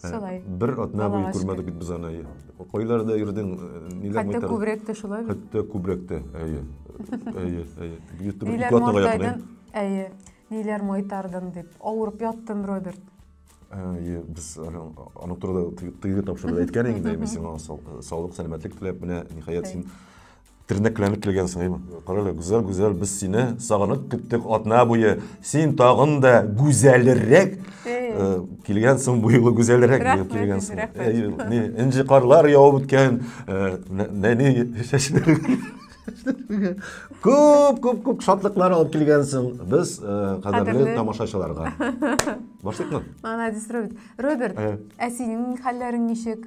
Ә, Шулай. Бер атна буе күрмәдек бит без аны. Кайларда йөрдең, ниләр майтар? Хәтта күбрәк тә шулай. Хәтта күбрәк тә, әйе. Әйе, әйе. Бит бер ике атнага якын. Әйе. Ниләр майтардың дип, авырып яттым, Роберт. Әйе, без аның турында тыйгы тапшырды әйткән инде, мин сиңа саулык, сәламәтлек теләп, менә ниһаять син Тернәкләнеп килгән сыңыймы? Карале, гүзәл, гүзәл, без сине сагынып көттек атна буе. Син тагын да гүзәлрәк э, килгәнсең бу юлы гүзәлрәк Рәхмәт, килгәнсең. рәхмәт. Әй, ни, Энҗе карлар явып үткән, э, нә- нәни чәчләр. Күп, күп, күп шатлыклар алып килгәнсең без э, кадерле Кадерле. тамашачыларга. Башлыкмы? Молодец, Роберт. Роберт, Э. ә синең хәлләрең ничек?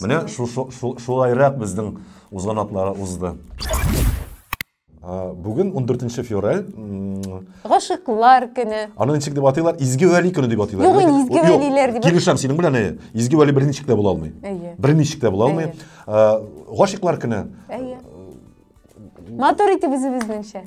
Менә шулайрак безнең узган атлары узды. Бүген 14 февраль. Гашыклар көне. Аны ничек дип атыйлар? Изге вәли көне дип атыйлар. Юк, изге вәлиләр дип. Килешәм синең белән. Изге вәли берничек тә була алмый. Берничек тә була алмый. Гашыклар көне. Матур итеп үзебезнеңчә.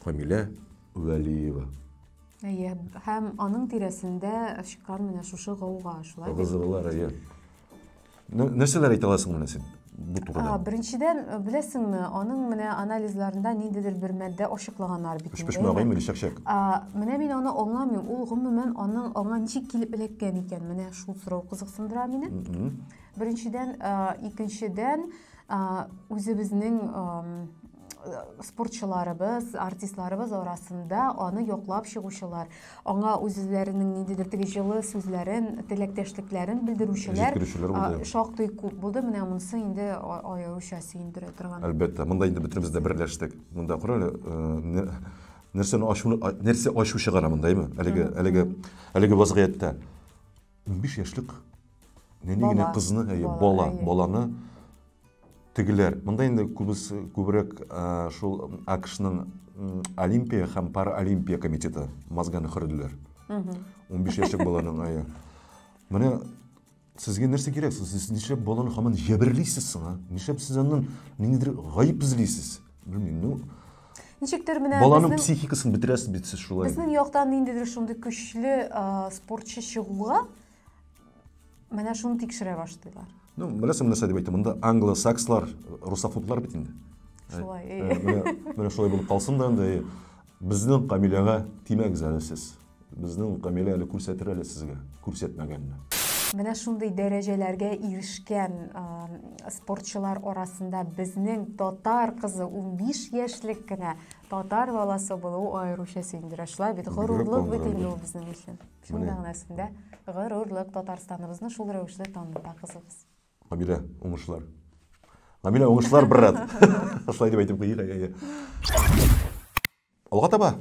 Камилә Вәлиева. Әйе, һәм аның тирәсендә чыккан менә шушы гауга, шулай бит? Гызырлар, әйе. Нәрсәләр әйтә аласың менә син? бу турыда? Беренчедән, э, беләсеңме, аның менә анализларында ниндидер бер мәддә ачыклаганнар бит. Өч пешмә агай мили чәкчәк. Менә мин аны аңламыйм. Ул гомумән аның аңа ничек килеп эләккән икән? Менә шул сорау кызыксындыра мине. Беренчедән, э, икенчедән, э, үзебезнең спортчыларыбыз, артистларыбыз арасында аны яклап чыгучылар, аңа үзләренең ниндидер теге җылы сүзләрен, теләктәшлекләрен белдерүчеләр шактый күп булды. Менә монысы инде аеруча сөендерә торган. Әлбәттә, монда инде бөтенебез дә берләштек. Монда кара әле, нәрсәне ачу, нәрсә ачу чыгара мондаймы? Әлеге, әлеге, әлеге вазгыятьтә 15 яшьлек нәни генә кызны, бала, баланы тегеләр монда инде күбесе күбрәк шул акшның олимпия һәм паралимпия комитеты мозганы хөрделәр он биш яшьлек баланың ае менә сезгә нәрсә кирәк сез нишләп баланы һаман җәберлисез соң а нишләп сез аннан ниндидер гаеп эзлисез белмим ну ничектер менә баланың психикасын бетерәсез бит сез шулай безнең яктан ниндидер шундый көчле спортчы чыгуга Менә шуны тикшерә башлыйлар. Ну, беләсең нәрсә дип әйтте, монда англосакслар, русофоблар бит инде. Шулай. Менә шулай булып калсын да инде. Безнең Камиләгә тимәгез әле сез. Безнең Камилә әле күрсәтер әле сезгә, күрсәтмәгәнне. Менә шундый дәрәҗәләргә ирешкән спортчылар арасында безнең татар кызы 15 яшьлек кенә татар баласы булу аеруча сөендерә. Шулай бит, горурлык бит инде ул безнең өчен. Шуның Менә. мәгънәсендә горурлык Татарстаныбызны шул рәвешле таныта кызыбыз. Гамилә, уңышлар. Гамилә, уңышлар, брат. Шулай дип әйтеп куйыйк, әйе. Алга таба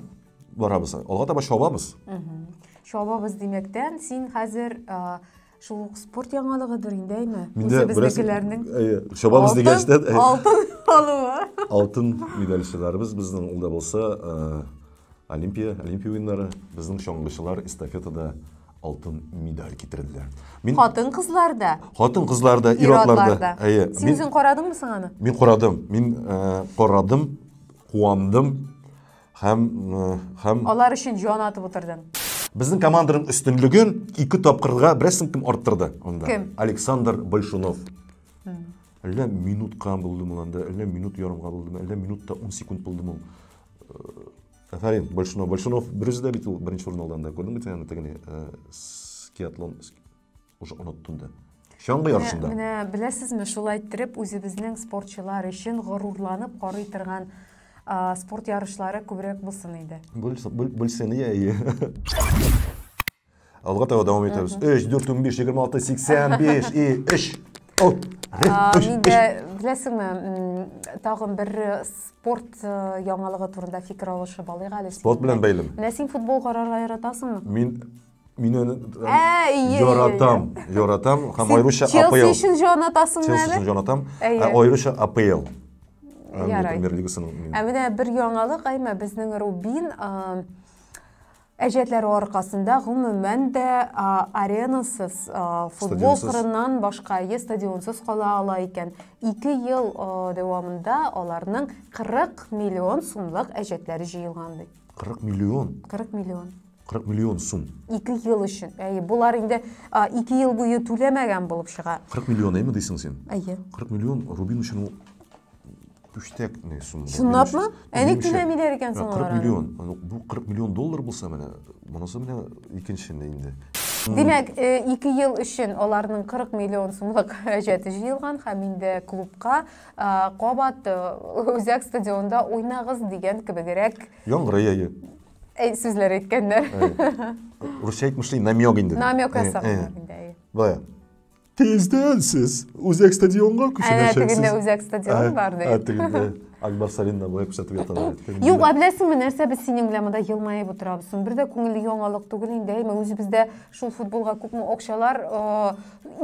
барабыз, алга таба чабабыз. Чабабыз димәктән, син хәзер а, Шул ук спорт яңалыгыдыр инде әйме. Үзе безнекеләрнең. Әйе, чабабыз дигәнчтән. Алтын алуы. Алтын медальчыларыбыз безнең ул да булса э, Олимпия, Олимпия уеннары, безнең чаңгычылар эстафетада алтын медаль китерделәр. Мин Хатын кызларда. Хатын кызларда, ир атларда. Әйе. Син үзең карадыңмы соң аны? Мин карадым. Мин э, карадым, куандым. Һәм һәм Алар өчен җан атып утырдым. Безнең команданың өстенлеген ике тапкырга берсен кем арттырды анда? Кем? Александр Большунов. Әллә минутка булдым ул анда, әллә минут ярымга булдым, әллә минутта 10 секунд булдым ул. Афәрин, Большунов. Большунов берүзе дә бит ул беренче урын алды анда. Күрдеңме син аны тегене? Скиатлон. Уже оныттым да. Чаңгы ярышында. Менә беләсезме, шулай иттереп үзебезнең спортчылар өчен горурланып карый торган спорт ярышлары күбрәк булсын иде. Бүлсен, иә, иә. Алга таба дәвам итәбез. 3, 4, 15, 26, 85 и 3. Миндә беләсеңме, тагын бер спорт э, яңалыгы турында фикер алышып алыйк әле. Спорт белән бәйлеме? Менә син футбол карарга яратасыңмы? Мин Мин аны Ә, ие, ие, яратам, яратам һәм аеруча Челси АПЛ. өчен җонатасың Челси әле? өчен җонатам. Әйе. Ә аеруча АПЛ. Англия Ярай. премьер лигасын. Ә менә бер яңалык Айма безнең Рубин а, әҗәтләре аркасында гомумән дә а, аренасыз а, футбол Стадионсыз. кырыннан башка е стадионсыз кала ала икән. Ике ел а, дәвамында аларның 40 миллион сумлык әҗәтләре җыелган ди. 40 миллион. 40 миллион. 40 миллион сум. 2 ел өчен. Әйе, булар инде 2 ел буе түләмәгән булып чыга. 40 миллион әйме дисең син? Әйе. 40 миллион Рубин өчен ул пүчтәк не сум. Чынлапмы? Әни түләмиләр икән соң 40 миллион. Бу 40 миллион доллар булса менә, монысы менә икенче инде. Димәк, 2 ел өчен аларның 40 миллион сумлык хаҗәте җыелган һәм инде клубка кабат Үзәк стадионда уйнагыз дигән кебегрәк. Яңгырый әйе. Әй, сүзләр әйткәннәр. Русча әйтмешли, намек инде. Намек ясаган инде, әй. Бая. Тиздән сез Үзәк стадионга күченәчәксез. Әнә тегендә Үзәк стадион бар, ди. Ә тегендә. Акбарс Арена буе күрсәтеп яталар. Юк, ә беләсеңме, нәрсә без синең белән монда елмаеп утырабыз. Бер дә күңелле яңалык түгел инде. Әйме, үзебездә шул футболга күпме акчалар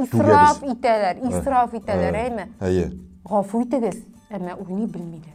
исраф итәләр, исраф итәләр, әйме? Әйе. Гафу итегез, әмма уйный белмиләр.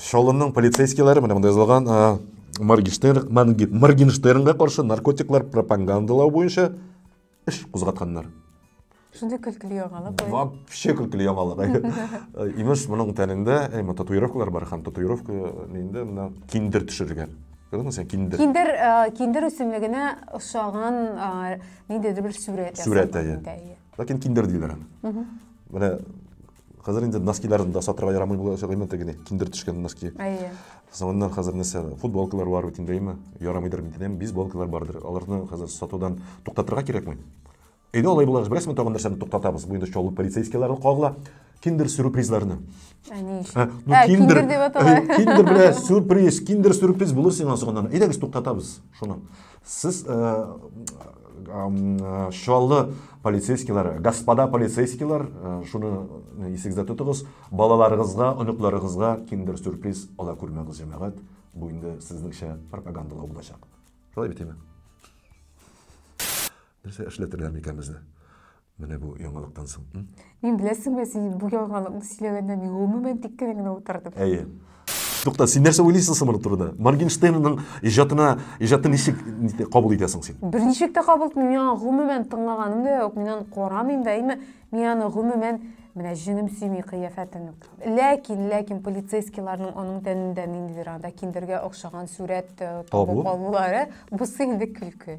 Чаллының полицейскийлары менә монда язылган Моргенштернга каршы наркотиклар пропагандалау буенча эш кузгатканнар. Шундый көлкілі яңалык. Вообще көлкілі яңалык. Имеш, мұның тәнендә әйме татуировкалар бар һәм татуировка нинде мына киндер төшерелгән. Күрдеңме сен киндер? Киндер, киндер үсемлегенә ошаган ниндидер бер сүрәт. Сүрәт әйе. Ләкин киндер диләр аны. Менә Хәзер инде носкиларын да сатырга ярамый була ошо гыйммәт генә киндер төшкән носки. Әйе. Соңыннан хәзер нәрсә футболкалар бар бит инде, әйме? Ярамыйдыр бит инде, бейсболкалар бардыр. Аларны хәзер сатудан туктатырга кирәкме? Әйдә алай булгач, беләсезме, тагын нәрсәне туктатабыз. Бу инде чаллы полицейскийлары кагыла. Киндер сюрпризларны. Ә ни өчен? Ә, ну, ә, киндер, киндер дип атала. Киндер белә сюрприз, киндер сюрприз булыр сиңа соңыннан. Әйдәгез туктатабыз шуны. Сез э, э, чаллы полицейскийлар, господа полицейскийлар, э, шуны исегездә тотыгыз, балаларыгызга, оныкларыгызга киндер сюрприз ала күрмәгез, җәмәгать. Бу инде сезнеңчә пропагандалау булачак. Шулай бит инде. Нәрсә эшләтергә микән безне? Менә бу яңалыктан соң, м? Мин беләсеңме, син бу яңалыкны сөйләгәндә мин гомумән тик кенә генә утырдым. Әйе. Тукта, син нәрсә уйлыйсың соң моның турында? Моргенштернның иҗатына, иҗатын ничек кабул итәсең син? Берничек тә кабул итмим, мин аны гомумән тыңлаганым да юк, мин аны карамыйм да, әйме, мин аны гомумән Менә җенем сөйми кыяфәтен. Ләкин, ләкин полицейскийларның аның тәнендә ниндидер анда киндергә охшаган сурәт э, табып алулары, бусы инде көлке.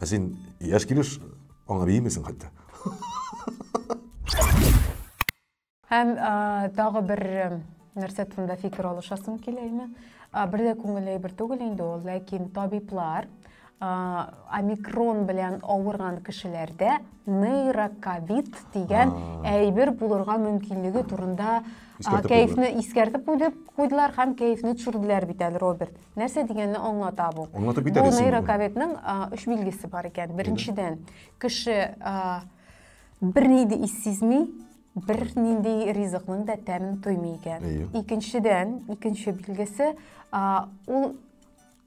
Ә син яшь килеш аңа биимисең хәтта. Һәм тагы бер нәрсә турында фикер алышасым килә ине. Бер дә күңелле әйбер түгел инде ул, ләкин табиблар омикрон белән авырган кешеләрдә нейрокавит дигән әйбер булырга мөмкинлеге турында кәефне искәртеп куйды, куйдылар һәм кәефне төшерделәр бит әле, Роберт. Нәрсә дигәнне аңлата бу? Аңлатып бит әле. Бу нейрокавитның өч билгесе бар икән. Беренчедән, кеше бер ни дә сизми, бер нинди ризыкның да тәмен тоймый икән. Икенчедән, икенче билгесе, ул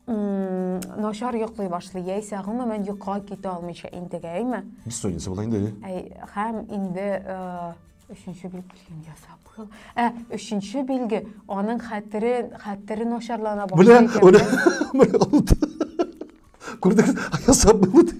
начар йоклый башлый яисә гомумән йокыга китә алмыйча интегәме бессонница була инде әй һәм инде өченче билгелеген ясап кыл ә өченче билге аның хәтере хәтере начарлана башлый күрдегез ясап булды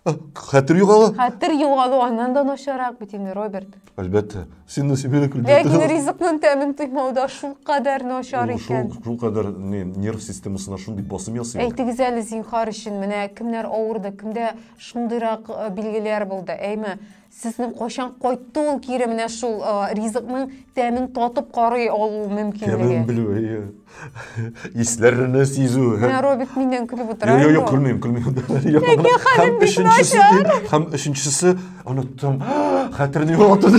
Хәтер югала. Хәтер югалу аннан да начарак бит инде, Роберт. Әлбәттә. Син нәрсә бирә Ләкин ризыкның тәмен тоймау да шул кадәр начар икән. Шул, шул кадәр не, нерв системасына шундый басым ясый. Әйтегез әле зинхар өчен, менә кемнәр авырды, кемдә шундыйрак э, билгеләр булды, әйме? Сезнең кайчан кайтты ул кире менә шул ризыкның тәмен татып карый алу мөмкинлеге? Тәмен белү, әйе. Исләрне сизү. Менә Роберт миннән көлеп утыра. Юк, юк, көлмим, көлмим. Ләкин хәлем бик начар. Һәм өченчесе, оныттым, хәтерне югалттым.